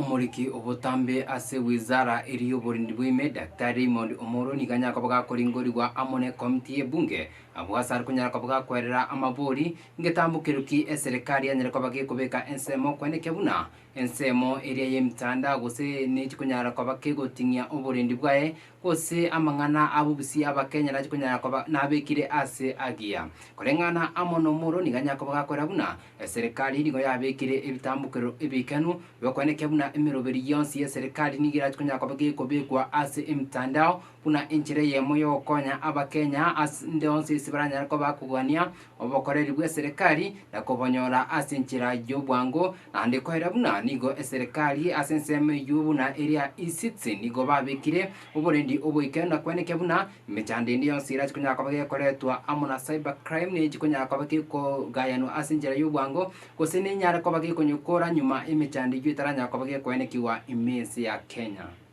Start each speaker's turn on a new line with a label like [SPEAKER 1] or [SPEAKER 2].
[SPEAKER 1] Omoriki obotambe ase wizara eria y'oborindi bw'ime, Daktari Raymond Omoro nigo anyare koba gakoringorigwa amo ne Ekomiti y'Ebunge. Abwo ase are konyara koba gakwerera amabori, ngetambokerwa ki eserekari yanyare koba gekobeka ensemo kwenekia buna ensemo eria y'emitanda gose nechikonyara koba kegoting'ia oborindi bwaye Gose amang'ana a bobusia Abakenya nache konyara koba nabekire ase agiya. Koreng'ana amo nomoro nigo anyare koba gakorera buna eserekari nigo yabekire ebitambokerero ebikenu bi'okwenekia buna emeroberi yonsi y'eserekari nigo erache konyara koba gekobekwa ase emitandao buna enchera eyemo y'ogokonya Abakenya ase nde onsi ase baranyare koba bakogania obokoreri bw'eserekari na kobonyora ase enchera y'obwango, naende koera buna nigo eserekari ase ensemo eyio buna eria Isitsi nigo babekire oborendi oboike na kwenekia buna emechando ende yonsi erache konyara koba gekoretwa amo na cyber crime ne chikonyara koba gekogayanwa ase enchera y'obwango gose nenyare koba gekonyekora nyuma emechando eyio etaranyara koba gekoenekigwa ime ense ya Kenya.